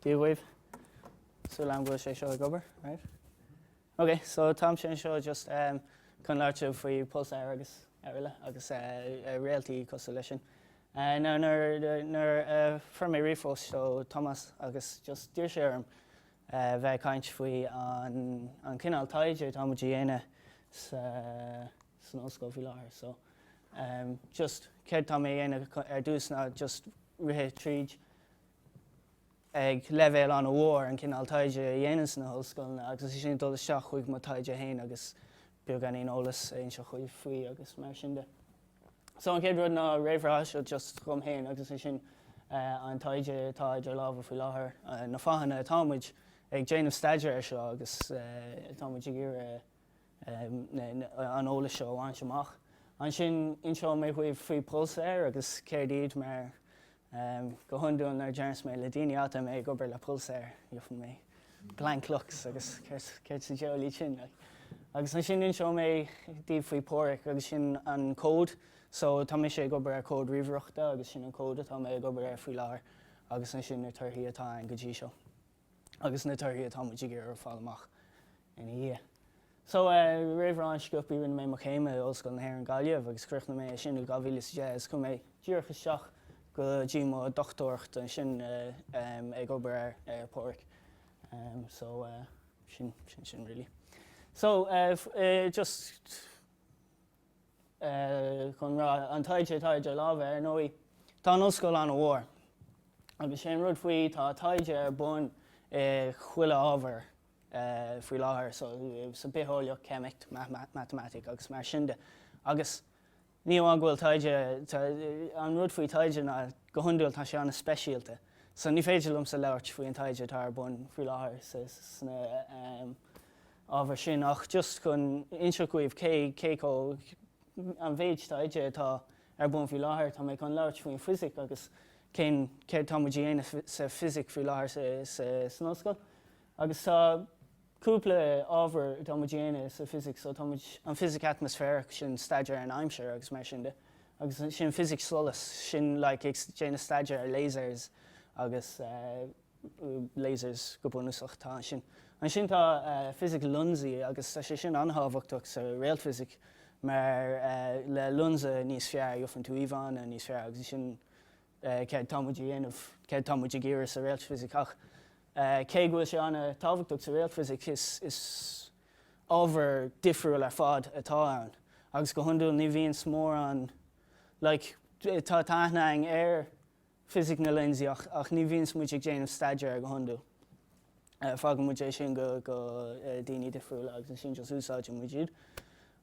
Dia dhaoibh. Súil agam go bhfuil sé seo ag obair, right? Okay, so tá mé anseo just um, chun labhairt faoi Pulsar agus ar eile agus uh, réaltaí cosúil leis sin. Uh, nuair nuair, nuair uh, fuair mé ríomhphost ó Thomás agus just d'iarr sé orm a bheith ag caint faoi an cineál taighde atá muid a dhéanamh san ollscoil faoi láthair. So just céard atá mé a dhéanamh ar dtús ná just rith tríd ag leibhéal an-mhór an cineál taighde a dhéanann sna hollscoileanna agus ansin dul isteach chuig mo taighde féin agus beagáinín eolas a inseacht dhaoibh faoi agus mar sin de. So an chéad rud ná réamhrá, so just fúm fhéin agus ansin an taighde atá idir lámha faoi láthair, na fáthanna atá muid ag déanamh staidéir ar seo agus atá muid ag iarraidh an eolas seo a bhaint amach. Ansin inseoidh mé dhaoibh faoi pulsar agus céard iad mar Go hiondúil nuair a déarfas mé le daoine go bhfuil mé ag obair le pulsar, gheobhfaidh mé blank looks agus céard sa diabhal iad sin? Agus ansin inseoidh mé daoibh faoi Pádraic agus sin an code. So tá mise ag obair ar code ríomhaireachta agus sin an code atá mé ag obair air faoi láthair agus ansin na torthaí atá ann go dtí seo. agus na torthaí atá muid ag iarraidh a fháil amach ina dhiaidh. So, réamhrá an-sciobtha rinne mé mo chéim in Ollscoil na hÉireann Gaillimh agus chríochnaigh mé é sin i 2010 is chuaigh mé díreach isteach go dtí mo dhochtúireacht ansin ag obair ar ar Phádraic. So, sin sin sin really. So, just. chun rá an taighde atá idir lámha. Ar ndóigh, tá an ollscoil an-mhór agus 'sé an rud faoi tá taighde ar bun i chuile ábhar faoi láthair so sa bhitheolaíocht, ceimic, matamaitic agus mar sin de. Agus ní amháin go bhfuil taighde an rud faoi taighde ná go hiondúil tá sé an-speisialta. So ní féidir liomsa labhairt faoi an taighde atá ar bun faoi láthair sna. hábhair sin ach just chun inseacht dhaoibh cé cé chomh an méid taighde atá ar bun faoi láthair. Tá mé chun labhairt faoin bhfisic agus cén céard atá muid a dhéanamh sa bhfisic faoi láthair sa sa san ollscoil. Agus tá cúpla ábhar atá muid a dhéanamh sa bhfisic so tá muid, an fhisic atmaisféarach sin staidéar ar an aimsir agus mar sin de. Agus ansin fisic solais sin like ag déanamh staidéar ar lasers agus eh, lasers go bunúsach, tá sin. Ansin tá fisic lionsaí agus tá sé sin an-tábhachtach sa réaltfhisic mar le lionsa níos fearr gheofann tú íomhánna níos fearr agus sin céard atá muid a dhéanamh, céard atá muid ag iarraidh sa réaltfhisic ach cé go bhfuil sé an-tábhachtach sa réaltfhisic is ábhar difriúil ar fad atá ann agus go hiondúil ní bhíonns mórán like tá aithne againn ar fisic na lionsaí ach, ach ní bhíonns muid ag déanamh staidéir air go hiondúil. Fágann muid é sin go, go daoine difriúla agus ansin just úsáideann muid iad.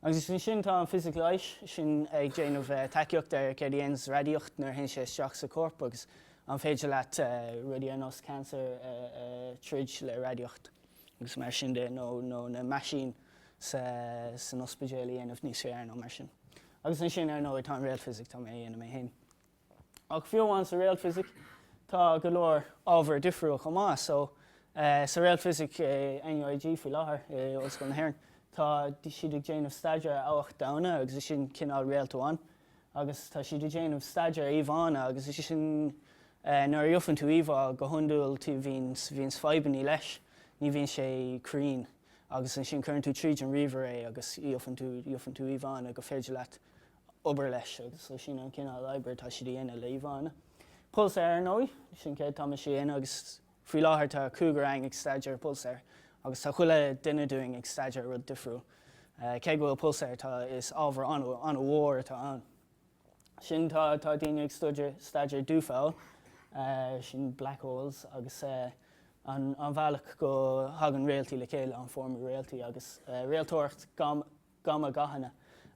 Agus is ansin tá an fisic leighis sin ag déanamh taighde ar céard a dhéanfas radaíocht nuair a théann sé isteach sa chorp agus an féidir leat rudaí ar nós cancer a, a troid le radaíocht agus mar sin de nó, nó na meaisín sa, san ospidéal a dhéanamh níos fearr nó mar sin. Agus ansin ar ndóigh tá an réaltfhisic, atá mé a dhéanamh mé féin. Ach fiú amháin sa réaltfhisic tá go leor ábhair difriúil chomh maith. So sa réaltfhisic i NUIG faoi láthair i Ollscoil na hÉireann tá siad ag déanamh staidéar ar abhac donna agus is sin cineál réalt amháin. Agus tá siad ag déanamh staidéar ar íomhánna agus is sin nuair a gheofann tú íomhá go hiondúil tú bhíonn bhíonn fadhbannaí leis, ní bhíonn sé cruinn. Agus ansin cuireann tú tríd an ríomhaire é agus gheofann tú gheofann tú íomhánna go féidir leat obair leis agus sin an cineál obair atá siad a dhéanamh le íomhánna. Pulsar ar ndóigh, sin céard atá mise a dhéanamh agus faoi láthair tá cúigear againn ag staidéar pulsar agus tá chuile duine dúinn ag staidéar rud difriúil. Cé go bhfuil Pulsar atá is ábhar an-mhór atá ann. Sin tá tá daoine ag stuidear staidéar dúphoill, sin black holes agus an bhealach go thagann réaltaí le chéile, an formú réaltaí agus réalteolaíocht gamma gathanna.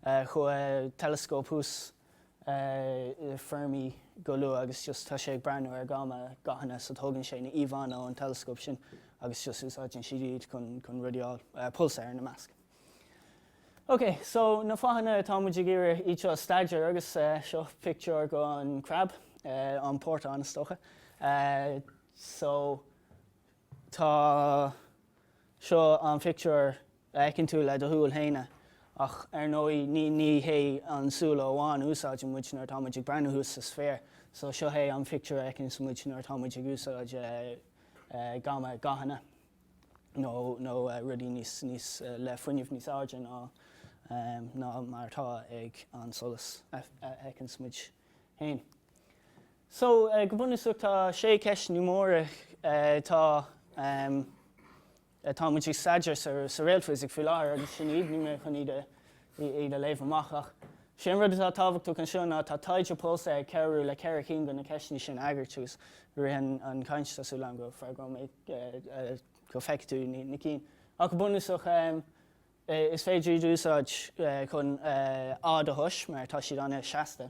Chuaigh teileascóp thuas Fermi go luath agus just tá sé ag breathnú ar gamma gathanna so tógann sé na íomhánna ón teileascóp sin agus just úsáideann siad iad chun rudaí a fháil, pulsár ina measc. Ok, so na fáthanna atá muid ag iarraidh iad seo a staidéar agus seo pictiúr gon crab, an portán is dócha. So tá seo an pictiúr a fheiceann tú le do shúil féin. Ach ar ndóigh ní hé an súile amháin a úsáideann muid nuair atá muid ag breathnú thuas sa spéir, so seo é an pictiúr a fheiceanns muid nuair atá muid ag úsáid gamma gathanna nó nó rudaí níos níos le fuinneamh níos airde ná ná mar atá ag an solas a fheiceanns muid féin. So go bunúsach tá sé ceist mór atá Tá muid ag staidéar sa réaltfhisic faoi láthair agus sin iad, níl mé chun iad a léamh amach ach sé an rud atá tábhachtach anseo ná tá taighde pulsar ag cabhrú le ceithre cinn de na ceisteanna sin a fhreagairt agus i rith an chaint tá súil agam go bhfreagróidh mé go feicfidh tú na cinn. Ach go bunúsach is féidir iad a úsáid chun a fháil do thomhas mar tá siad an-seasta.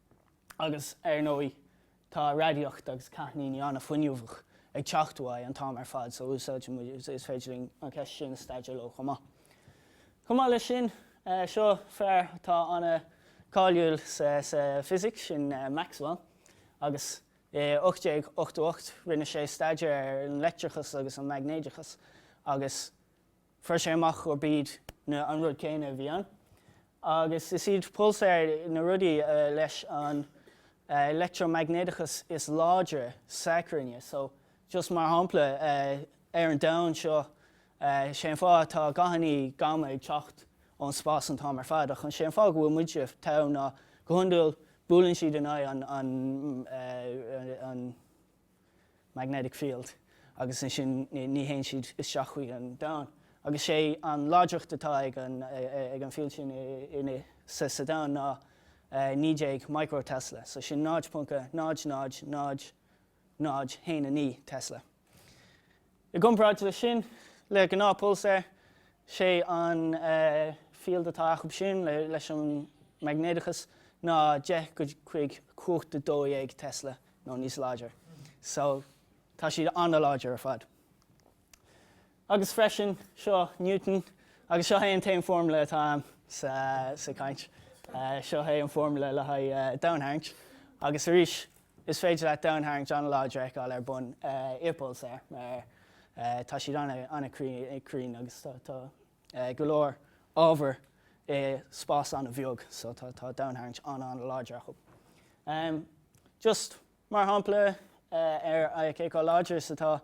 agus ar ndóigh tá radaíocht agus cáithníní an-fuinneamhach ag teacht uaidh an t-am ar fad so úsáidfidh muid, is féidir linn an cheist sin a staidéar leo chomh maith. Chomh maith leis sin, seo fear atá an-cháiliúil sa Fisic, sin Maxwell, agus i 1888 rinne sé staidéar ar an leictreachas agus an maighnéadachas agus fuair sé amach gurb iad an rud céanna a bhí ann. Agus is iad pulsáir na rudaí leis an leictreamaighnéadachas is láidre sa gcruinne. So, just mar shampla, ar an domhan seo, sé an fáth atá gathanna gamma ag teacht ón spás an t-am ar fad, ach an sé an fáth go bhfuil muide ann ná go hiondúil buaileann siad in aghaidh an, an, an, magnetic field, agus ansin ní théann siad isteach chuig an domhan. Agus sé an láidreacht atá ag an field sin sa domhan ná 19 micro Tesla, so sin 0.0000019 Tesla. I gcomparáid leis sin, le gnáthphulsáir, sé an field atá acu b'shin leis an maignéadachas ná 10 go dtí cumhacht 12 Tesla nó níos láidir. So, tá siad an-láidir ar fad. Agus freisin, seo Newton agus seo é an t-aon foirmle atá ann sa chaint. Seo é an foirmle le haghaidh domhantarraingt. Agus arís, Is féidir leat domhantarraingt an-láidir a fheiceáil ar bun i bpulsar mar tá siad an-cruinn agus tá go leor ábhair i spás an-bheag so tá domhantarraingt an-an-láidir acu. Just mar shampla ar cé chomh láidir is atá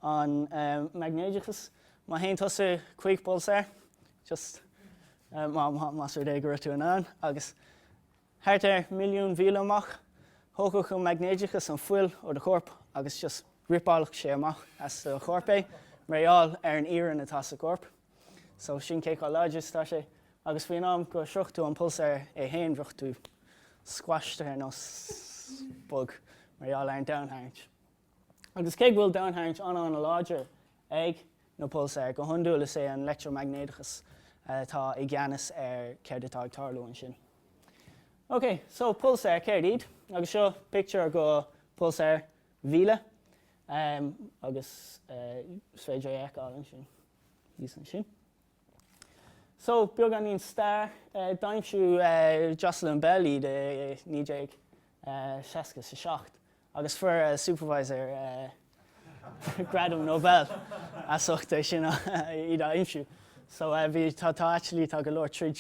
an maighnéadachas, má théann tusa chuig pulsar, just más rud é go raibh tú in ann agus Thart ar milliún míle amach, thógfadh an maighnéadachas an fuil ó do chorp agus just ripeálfadh sé amach as do chorp é, mar gheall ar an iarann atá sa gcorp. So, sin cé chomh láidir is atá sé. Agus faoin am go sroichfeadh tú an pulsar é féin, bheadh tú squashed ar nós bug mar gheall ar an domhantarraingt. Agus cé go bhfuil domhantharraingt an-ana láidir ag na pulsáir, go hiondúil is é an leictreamaighnéadachas atá i gceannas ar céard atá ag tarlú ansin. Ok, so pulsáir, céard iad? Agus seo pictiúr go pulsáir Vela agus is féidir é a fheiceáil ansin, thíos ansin. So, beagáinín stair, d'aimsigh Jocelyn Bell iad i 1967 Agus fuair a supervisor Gradam Nobel as ucht é sin iad a aimsiú. So bhí, tá, tá actually, tá go leor troid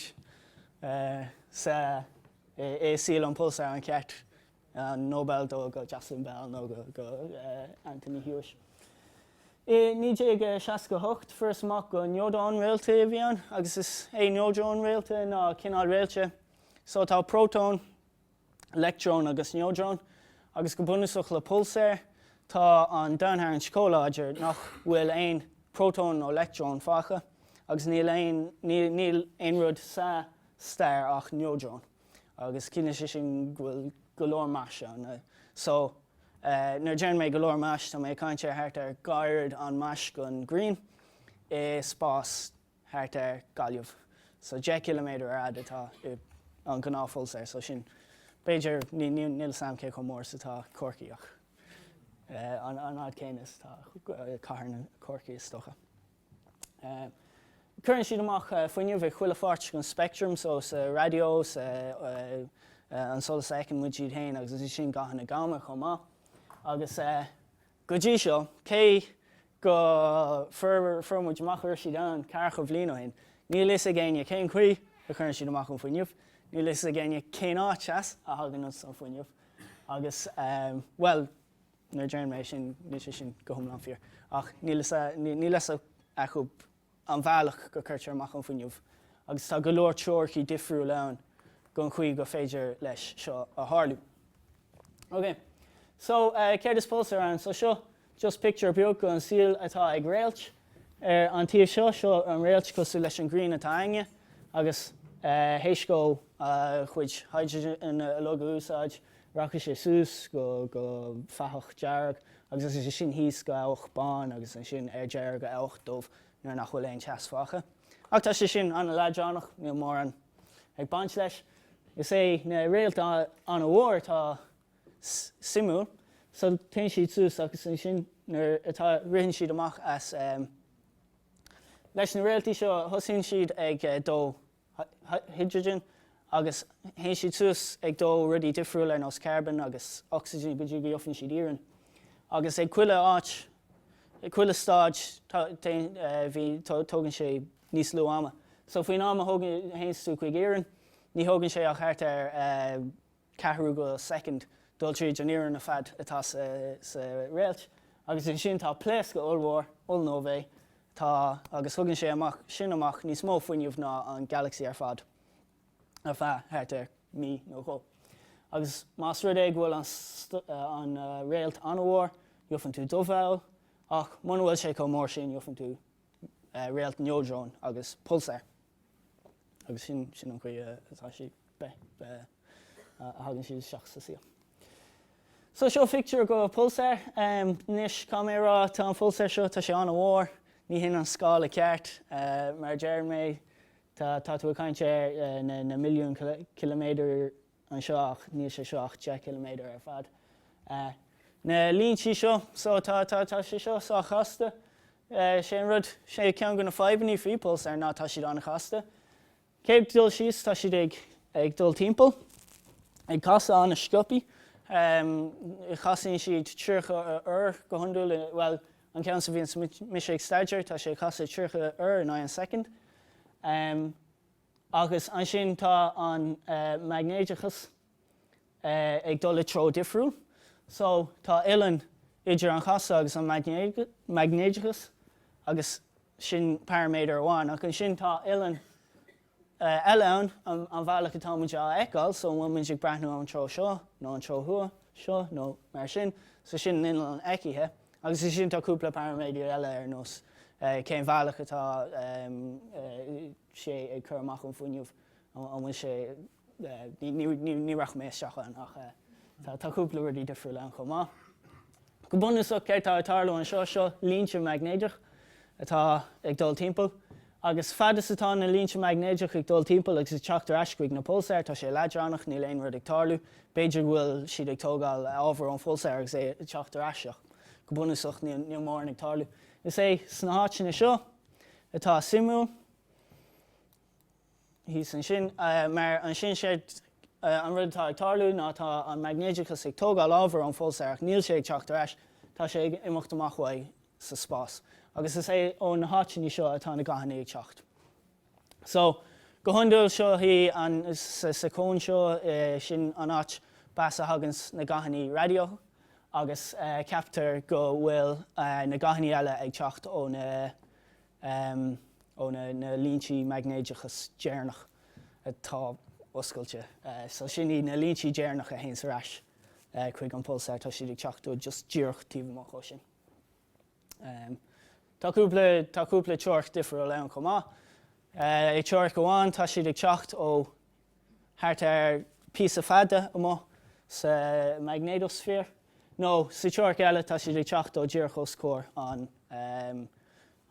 sa, i saol an pulsar ar cheart an Nobel dó go Jocelyn Bell nó go, go Anthony Hewish. I 1968 fuarthas amach gur neodróin réaltaí a bhí ann agus is é neodróin réalta ná cineál réilte. So tá prótón, leictreoin agus neodróin, agus go bunúsach le pulsair. Tá an domhantarraingt chomh láidir nach bhfuil aon prótón nó leictreon fágtha, agus níl aon, níl, níl aon rud sa star ach neodróin, agus ciallaíonn sé sin go bhfuil go leor mais ann. So, nuair a deireann mé go leor mais, tá mé ag caint ar thart ar dhá oiread an mais gon ghrian i spás. thart ar Gaillimh. So deich gciliméadar ar fhad atá an gnáth phulsár. So sin b'fhéidir, níl 's a'm cé chomh mór 's atá Corcaigh ach an fhad céanna is atá cathair na Corcaigh is dócha. Cuireann siad amach fuinneamh ag chuile pháirt gon speictream, so sa raidió, sa an solas a fheiceann muid muid fhéin agus ansin gathanna gamma chomh maith agus Go dtí seo, cé go fuair muid amach go raibh siad ann ceathracha bhliain ó shin, níl fhios ag éinne cén chaoi a chuireann siad amach an fuinneamh, níl fhios ag éinne cén áit as a thagann an fuinneamh agus bhuel nuair a deireann mé é sin, níl sé sin go hiomlán fíor ach níl fhios acu. an bhealach go gcuirtear amach an fuinneamh agus tá go leor teoiricí difriúil ann gon chaoi go féidir leis seo a tharlú. Ok, so céard is pulsar ann? So seo just pictiúr beag gon saol atá ag réalt ar an taobh seo, seo an réalt cosúil leis an ghrian atá againne agus théis dhó a chuid hydrogen uilig a úsáid, Rachadh sé suas go go fathach dearg agus as sin thíos go abhach bán agus ansin ar deireadh go abhach dubh nuair nach bhfuil aon teas fágtha. Ach tá sé sin an-leadránach, níl mórán ag baint leis. Is é na réalta ana-mhór atá suimiúil. So téann siad suas agus ansin nuair atá ritheann siad amach as leis na réaltaí seo thosaíonn siad ag dó hidrigin agus théann siad suas ag dó rudaí difriúil ar nós carbon agus ocsaigin go dtí go gheofann siad iarann. Agus ag chuile áit, ag chuile stáid tógann sé níos lú ama. So faoin am a théanns tú chuig iarann ní thógann sé ach thart ar ceathrú go second dul tríd an iarann ar fad atá sa réalt agus ansin tá pléascadh ollmhór, ollnóva, atá agus thugann sé amach sin amach níos mó fuinneamh ná an Galaxy ar fad ar feadh thart ar mhí nó dhó. Agus más rud é go bhfuil an réalt an-mhór, gheofann tú dúpholl, ach muna bhfuil sé chomh mór sin gheofann tú réalt neodróin agus pulsar. agus sin sin an chaoi atá sí be be a thagann siad isteach sa saol. So seo phictiúr go pulsar. Anois caithfidh mé a rá tá an phulsar seo tá sé an-mhór ní hin an scála ceart mar a deireann mé tá tá tú ag caint ar na na milliún ciliméadair anseo ach níl sé seo ach 10 km ar fad. Na líntí seo so tá tá tá sé seo sách chasta. Sé an rud sé ceann go na fadhbannaí faoi Pulsar ná tá siad an-chasta. Cé ag dul síos tá siad ag ag dul timpeall ag casadh an-sciopthaí. Chasaíonn siad 30 uair go hiondúil bhuel an ceann seo a bhíonn mise ag staidéar tá sé ag casadh 30 uair in aghaidh an second. Agus ansin tá an maighnéideachas ag dul i dtreo difriúil. So, tá uilleann idir an chasadh agus an maighnéideachas agus sin paraiméadar amháin. Ach ansin tá uilleann eile ann, an bhealach atá muid á fheiceáil, so an bhfuil muid ag breathnú ón treo seo nó an treo thuaidh seo nó mar sin, so sin an uilleann fheicthe. Agus ansin tá cúpla paraiméadar eile ar nós cén bhealach atá sé ag cur amach an fuinneamh an bhfuil sé ní rachaidh mé isteach ann ach tá cúpla rudaí difriúil ann chomh maith. Go bunúsach céard tá ag tarlú anseo, seo línte maighnéideach atá ag dul timpeall agus fad is atá na línte maighnéideach ag dul timpeall agus ag teacht ar ais chuig na pulsáir tá sé leadránach, níl aon rud ag tarlú, b'fhéidir go bhfuil siad ag tógáil ábhar ón phulsár agus é ag teacht ar ais ach go bunúsach níl mórán ag tarlú. Is é sna háiteanna seo atá suimiúil thíos ansin mar ansin séard an rud atá ag tarlú ná tá an maighnéideachas ag tógáil ábhar ón phulsáir ach níl sé ag teacht ar ais, tá sé ag imeacht amach uaidh sa spás. Agus is é ó na háiteanna seo atá na gathanna ag teacht. So, go hiondúil seo í an, sa cón seo, sin an áit b'as a thaganns na gathanna raidió agus ceaptar go bhfuil na gathanna eile ag teacht ó na líntí maighnéideachas deireanach atá oscailte. So sin iad na líntí deireanach a théanns ar ais chuig an pulsár, tá siad ag teacht just díreach taobh amach ó sin. Tá cúpla teoiric difriúil ann chomh maith. I dteoiric amháin tá siad ag teacht ó thart ar phíosa fada amuigh sa maignéadósféar, nó sa teoiric eile tá siad ag teacht ó díreach os comhair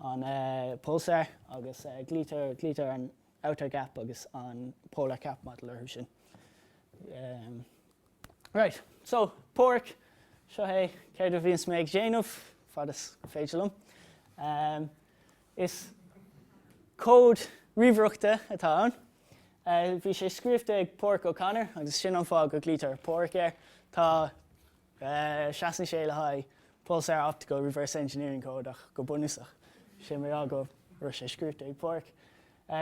an pulsar agus glaoitear, glaoitear an outer gap agus an polar cap model orthu sin. Right, so, PORC, seo é céard a bhíonns mé ag déanamh, fad is féidir liom. Is cód ríomhaireachta atá ann. Bhí sé scríofa ag Páraic O'Connor agus sin an fáth go glaoitear PORC air. Tá, seasann sé le haghaidh Pulsar Optical Reverse Engineering Code ach go bunúsach. Is é mar go raibh sé scríofa ag Páraic.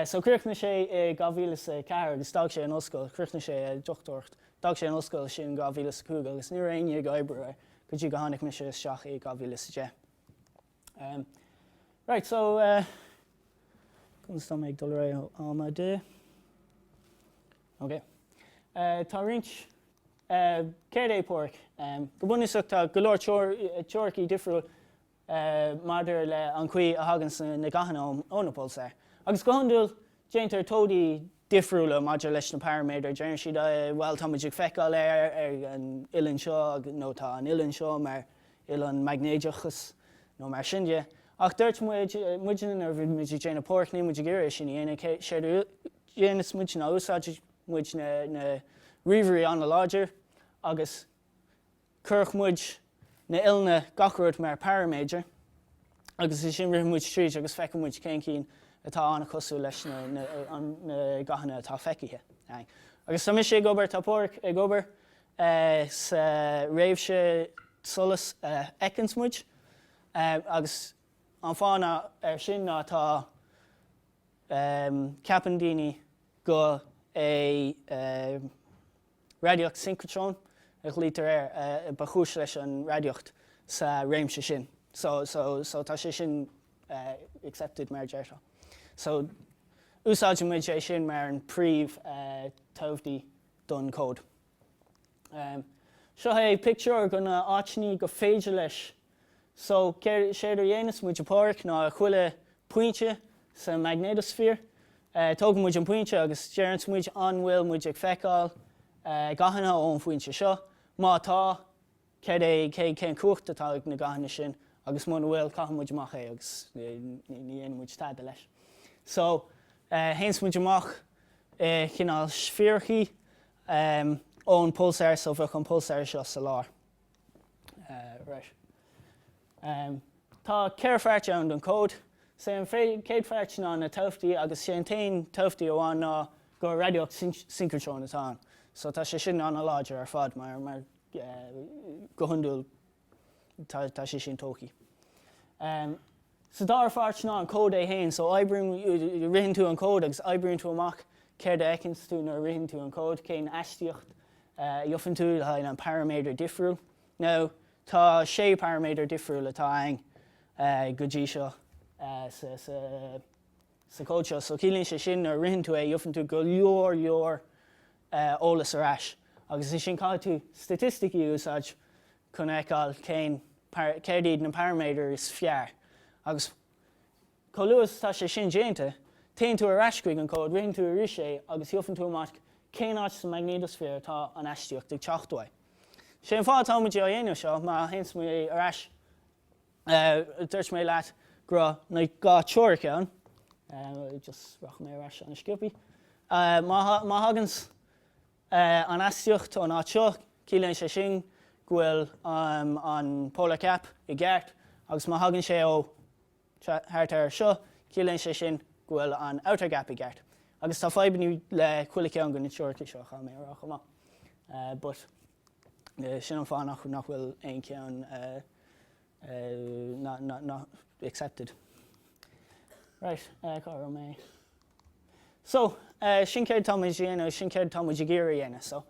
So chríochnaigh sé i 2004 agus d'fhág sé an ollscoil, chríochnaigh sé a dhochtúireacht, d'fhág sé an ollscoil sin in 2005 agus ní raibh éinne ag oibriú air go dtí go tháinig mise isteach i 2010. Right so conas tá mé ag dul ar aghaidh ó am, a D? Ok. Tá roinnt céard é PORC. Go bunúsach tá go leor teoiricí difriúil maidir le an chaoi a thaganns na gathanna ó na pulsáir, agus go hiondúil déantar toimhdí difriúla maidir leis na paraiméadair. Deireann siad, bhuel, tá muid ag feiceáil é ar an uilleann seo, nó tá an uilleann seo mar uilleann maignéideachas, nó mar sin de. Ach dúirt muid nuair a bhí muid ag déanamh PORC, níl muid ag iarraidh é sin a dhéanamh, séard a dhéanas muid ná úsáideann muid na ríomhairí an-láidir agus, Cuirfidh muid na huilleanna gach rud mar paraiméadair agus ansin rithfidh muid tríd agus feicfidh muid cén cinn atá an-chosúil leis na gathanna atá feicithe. Agus tá mise ag obair, tá PORC ag obair sa réimhse solas a fheiceanns muid agus an fáth ná ar sin ná tá ceapann daoine go é. Radaíocht Synchotron a ghlaoitear air ba chúis leis an radaíocht sa réimse sin so tá sé sin accepted mar a deirteá so úsáideann muid é sin mar an príomh toimhdí don cód. Seo é pictiúr dho na áiteannaí go féidir leis So, séard a dhéanfas muid a Pádhraic ná a chuile phointe sa magnetosphere. Tógann muid an pointe agus deireanns muid an bhfuil muid ag feiceáil gathanna ón bpointe seo. Má tá, céard é, cén chumhacht atá ag na gathanna sin agus muna bhfuil caitheann muid amach é agus ní dhéanfaidh muid tada leis. So, théanns muid amach i gcineál sféarachaí ón pulsar so bheadh an pulsar seo sa lár. Tá ceithre pháirt ann don chód. 'S é an chéad pháirt ná na toimhdí agus 'sé an t-aon toimhdí amháin ná gur radaíocht synchrotron atá ann. So tá sé sin an-láidir ar fad mar go hiondúil tá sé sin tógtha. Sé an dara páirt ná an cód é féin. So ritheann tú an cód agus oibríonn tú amach céard a fheicfeas tú nuair a ritheann tú an cód, cén astaíocht a gheobhann tú le haghaidh na paraiméadair difriúil. Now tá sé paraiméadar difriúil atá ann go dtí seo sa cód seo. So ciallaíonn sé sin nuair a ritheann tú é gheobhann tú go leor leor eolas ar ais agus ansin caithfidh tú staitisticí a úsáid chun a fheiceáil cén, céard iad na paraiméadair is fearr agus chomh luath is atá sé sin déanta, téann tú ar ais chuig an cód, ritheann tú arís é agus gheobhann tú amach cén áit sa maignéadasféar atá an astaíocht ag teacht uaidh. Sé an fáth atá muid á dhéanamh seo, má théanns mé ar ais, dúirt mé leat go raibh na dhá teoiric ann, just rachaidh mé ar ais an-sciobthaí, má thaganns, an astaíocht ón áit seo. Ciallaíonn sé sin go bhfuil an polar cap i gceart agus má thagann sé ó thart ar seo, ciallaíonn sé sin go bhfuil an outer gap i gceart. Agus tá fadhbannaí le chuile ceann go na teoiricí seo, caithfidh mé a rá chomh maith. But sin an fáth nach bhfuil aon cheann. Not accepted. Right eh cá raibh mé? So eh sin céard atá muid ag dhéanamh agus sin céard atá muid ag iarraidh a dhéanamh. So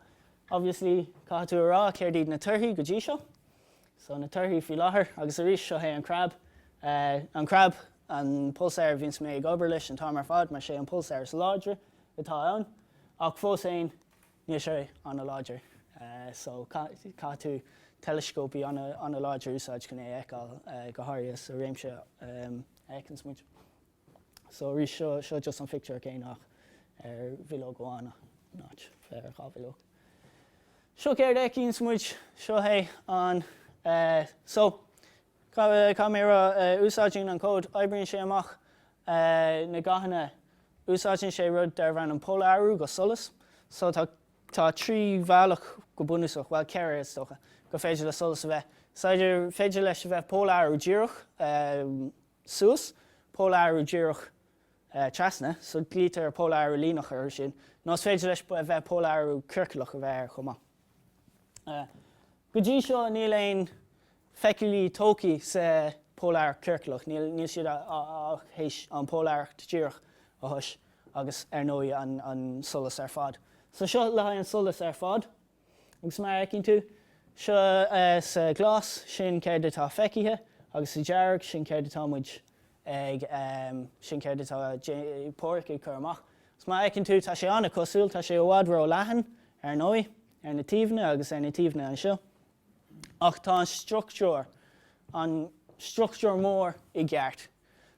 obviously caithfidh tú a rá céard iad na torthaí go dtí seo. So na torthaí faoi láthair agus arís seo é an crab eh an crab an pulsar a bhíonns mé ag obair leis an t-am ar fad mar sé an pulsar is láidre atá ann ach fós féin Níl sé an-láidir, so caithfidh tú teileascópaí an-láidir a úsáid chun é a fheiceáil, go háirithe sa réimse a fheiceanns muide. So arís, seo just an pictiúr céanna ach ar bhileog amháin, not ar dhá bhileog. Seo céard a fheiceanns muide, seo é an, so Caiméara a úsáideann an cód. Oibríonn sé amach na gathanna. Úsáideann sé rud darb ainm polarú go solas. So tá tá trí bhealach go bunúsach, bhuel ceithre is dócha, gur féidir le solas a bheith. Is eidir féidir leis a bheith polarú díreach suas, polarú díreach trasna, so glaoitear polarú líneach ar sin, nó is féidir leis a bheith polarú ciorcalach a bheith air chomh maith. Go dtí seo níl aon feiceálaí tógtha sa pholaireacht chiorclach, níl siad ach théis an pholaireacht dhíreach a thomhas, agus ar ndóigh an solas ar fad. So seo le haghaidh an solas ar fad, agus mar a fheiceann tú, seo sa ghlas, sin céard atá feicthe, agus sa dearg, sin céard atá muid ag, sin céard atá POREC ag cur amach. Agus mar a fheiceann tú, tá sé an-chosúil, tá sé i bhfad ró-leathan, ar ndóigh, ar na taobhanna agus ar na taobhanna anseo. Ach tá an struchtúr, an struchtúr mór i gceart.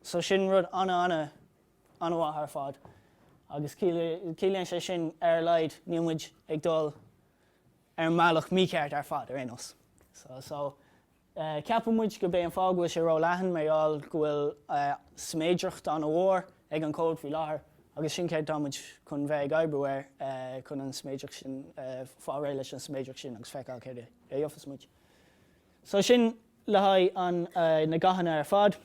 So sin rud ana ana anamhaith ar fad agus ciallaíonn sé sin ar a laghad níl muid ag dul ar an mbealach mícheart ar fad ar aon nós. So so ceapann muid gob é an fáth go bhfuil sé ró leathan mar gheall go bhfuil siméadracht ana mhór ag an cód faoi láthair agus sin céard táimid chun bheith ag oibriú air chun an siméadracht sin, fáil réidh leis an siméadracht sin agus feiceáil céard a gheofas muid. So sin le haghaidh an, na gathanna ar fad.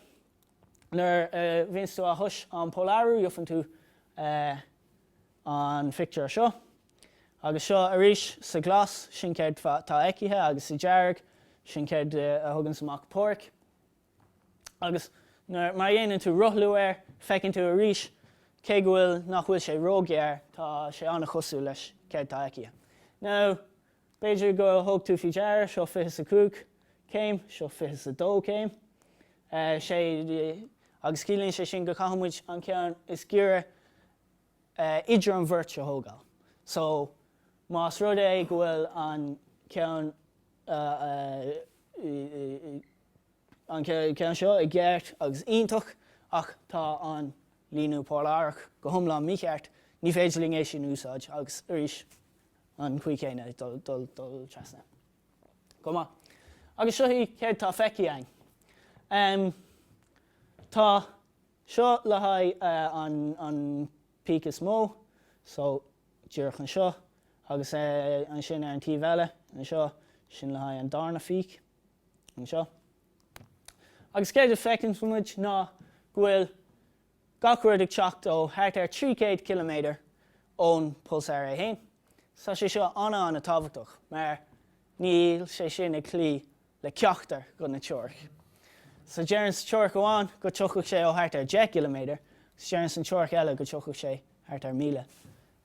Nuair a bhíonns tú á thomhas an polarú gheofann tú an phictiúr seo. Agus seo arís sa ghlas sin céard tá feicthe agus sa dearg sin céard a thuganns amach POREC. agus mar a dhéanann tú rothlú air, feiceann tú arís, cé go bhfuil, nach bhfuil sé róghar, tá sé an-chosúil leis céard atá feicthe. Now, b'fhéidir go thug tú faoi deara, seo 25 céim, seo 22 céim, agus ciallaíonn sé sin go caithfidh muid an ceann is giorra idir an bheirt a thógáil. So, más rud é go bhfuil an ceann an ceann seo i gceart agus iontach ach tá an líniú polarach go hiomlán mícheart, ní féidir linn é sin úsáid agus arís an chaoi chéanna ag dul trasna. Go maith. Agus seo céard tá feicthe againn. Em tá seo le haghaidh an peak is mó so díreach anseo agus ansin ar an taobh eile anseo sin le haghaidh an darna pheak. anseo. Agus céard a fheiceann muid ná go bhfuil gach rud ag teacht ó thart ar 300 ciliméadar ón pulsar é féin. Tá sé seo an-an-tábhachtach mar níl sé sin ag cloí le ceachtar dho na teoiricí. So deireann sa teoiric amháin go dtiocfadh sé ó thart ar 10 gciliméadar, deireann san teoiric eile go dtiocfadh sé thart ar 1000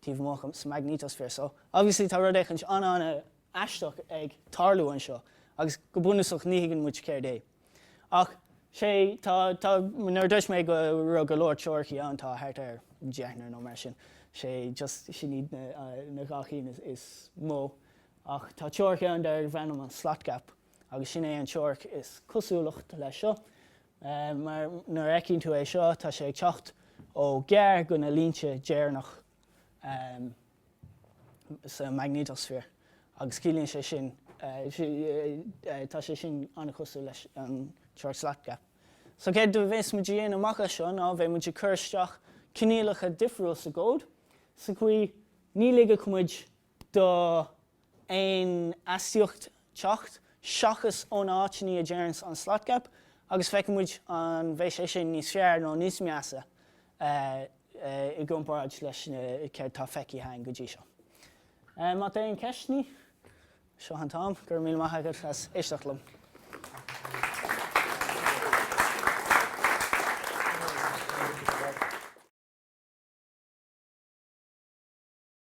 taobh amuigh sa maignéatasféar. So obviously tá rud éicint an-an- aisteach ag tarlú anseo agus go bunúsach ní thuigeann muid céard é. Ach sé nuair a dúirt mé go raibh go leor teoiricí ann tá thart ar dheichniúr nó mar sin sé just sin iad na na dhá chinn is is mó ach tá teoiric ann darbh ainm an slot gap agus sin é an teoiric is cosúlacht leis seo mar nuair a fheiceann tú é seo tá sé ag teacht ó gar dho na línte deireanach sa maignéatasféar, agus ciallaíonn sé sin tá sé sin an-chosúil leis an teoiric slot gap. So céard a bhéas muid a dhéanamh amach as seo ná bheidh muid ag cur isteach coinníollacha difriúil sa gcód, sa chaoi ní ligfidh muid do aon astaíocht teacht seachas ón áit a ndeireanns an slot gap agus feicfidh muid an bheidh sé sin níos fearr nó níos measa i gcomparáid leis céard tá feicthe againn go dtí seo. Má tá aon ceisteannaí, seo an t-am. Go raibh míle maith agat as éisteacht liom.